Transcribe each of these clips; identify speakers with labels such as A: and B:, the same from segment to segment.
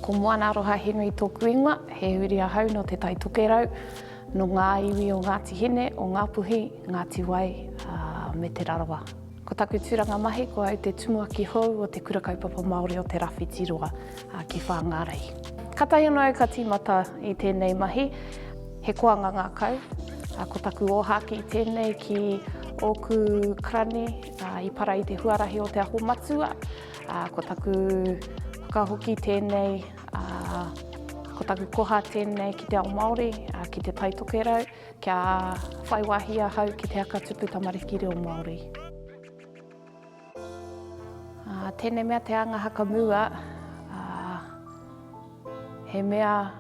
A: Ko Moana Aroha Henry tōku ingoa, he uri ahau no Te Tai Tokerau, no ngā iwi o Ngāti Hine, o Ngāpuhi, Ngāti Wai, me Te Rarawa. Ko taku tūranga mahi ko au te tumuaki hou o Te Kura Kaupapa Māori o Te Rawhiti Roa ki Whāngārei. Katahi anō au ka tīmata i tēnei mahi, he koanga ngākau, ko taku ōhākī tēnei ki ōku karani, I para i te huarahi o Te Aho Matua, ko taku whakahoki tēnei, ko taku koha tēnei ki te ao Māori, ki Te Tai Tokerau, kia whai wāhi ahau ki te haka tupu tamariki reo Māori. Tēnei mea te anga hakamua, he mea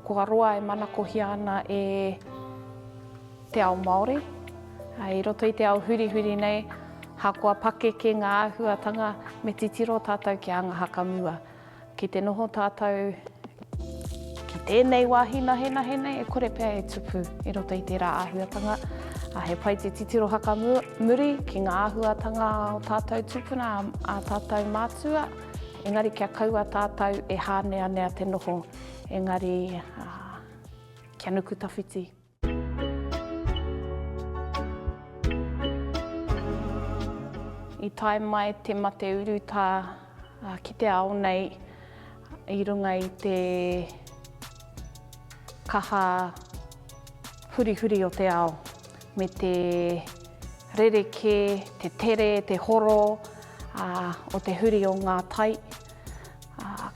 A: kua roa e manakohia ana e. te ao Māori. I roto i te ao hurihuri nei, ahakoa pakeke ngā āhuatanga, me titiro tātou ki anga hakamua. Ki te noho tātou ki tēnei wāhi nahenahe nei, e kore pea e tupu i roto i tērā āhuatanga. He pai te titiro hakamuri ki ngā āhuatanga o tātou tūpuna, a tātou mātua, engari kia kaua tātou e hāneanea te noho, engari kia nuku tawhiti. I tae mai te mate urutā ki te ao nei i runga i te kaha hurihuri o te ao, me te rerekē, te tere, te horo o te huri o ngā tai.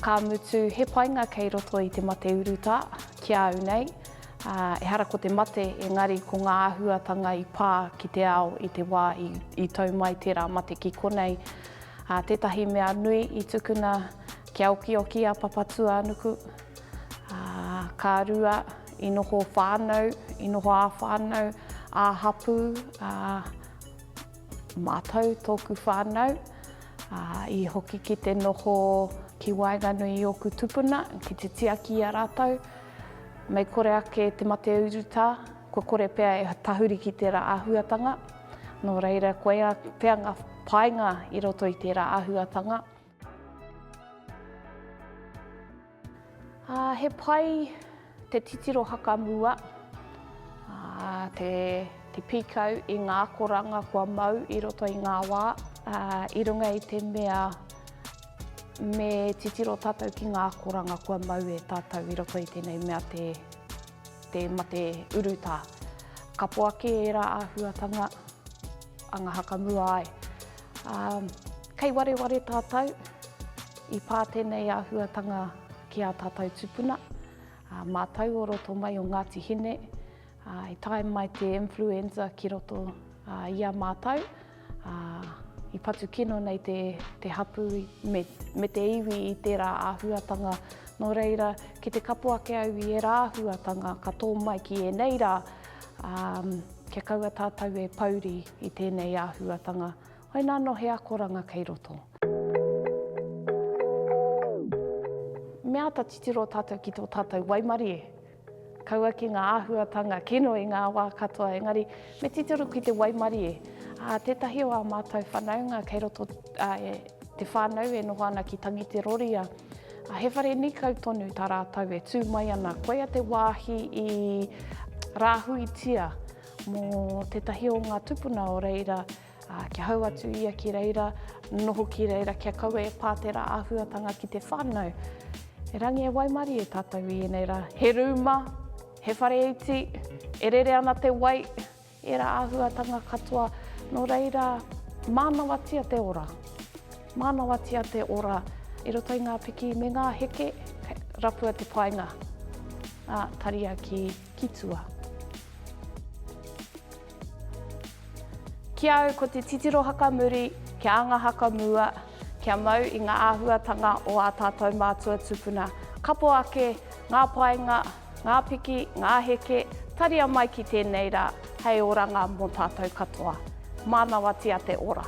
A: Ka mutu, he painga kei roto i te mate urutā ki a au nei. Ehara ko te mate, engari ko ngā āhuatanga i pā ki te ao i te wā i tau mai tērā mate ki konei. Tētahi mea nui i tukuna kia okioki a Papatūānuku, ka rua i noho whānau, i noho ā-whānau, ā-hapū, mātou, tōku whānau, i hoki ki te noho ki waenganui i ōku tupuna, ki te tiaki i a rātou. Mei kore ake te mate urutā, kua kore pea e tahuri ki tērā āhuatanga, nō reira koia pea ngā painga i roto i tērā āhuatanga. He pai te titiro hakamua, te pīkau i ngā akoranga kua mau i roto i ngā wā, i runga i te mea, Me titiro tātou ki ngā akoranga kua mau e tātou i roto i tēnei mea te, te mate urutā. Kapo ake ērā āhuatanga anga hakamua ai. Um, kei wareware tātou, i pā tēnei āhuatanga ki a tātou tupuna, uh, mātou o roto mai o Ngāti Hine, Ā, i tae mai te influenza ki roto i a mātou, ā, i patu kino nei te, te hapū me, me te iwi i tērā āhuatanga. Nō reira, ki te kapo ake au i ērā āhuatanga ka tō mai ki ēnei rā, ā, kia kaua tātou e pouri i tēnei āhuatanga. Hoi nā anō he akoranga kei roto. Me āta titiro tātou ki tō tātou waimarie. Kaua ki ngā āhuatanga kino i ngā wā katoa, engari me titiro ki te waimarie, ā, tētahi o ā mātou whanaunga kei roto i te whānau e noho ana ki Tangiteroria, ā, he whare nīkau tonu tā rātou e tū mai ana, koia te wāhi i rāhuitia mō tētahi o ngā tūpuna o reira. Ā, kia hau atu ia ki reira, noho ki reira, kia kaua e pā tērā āhuatanga ki te whānau. E Rangi e waimarie tātou i ēnei rā. He rūma, he whare iti, e rere ana te wai, ērā āhuatanga katoa. Nō reira, mānawatia te ora. Mānawatia te ora i roto i ngā piki me ngā heke, rapua te painga, ā, taria ki, ki tua. Ki au ko te titiro haka muri, kia anga haka mua, kia mau i ngā āhuatanga o ā tātou mātua tupuna. Kapo ake ngā painga, ngā piki, ngā heke, taria mai ki tēnei rā hei oranga mō tātou katoa. Mānawatia te ora!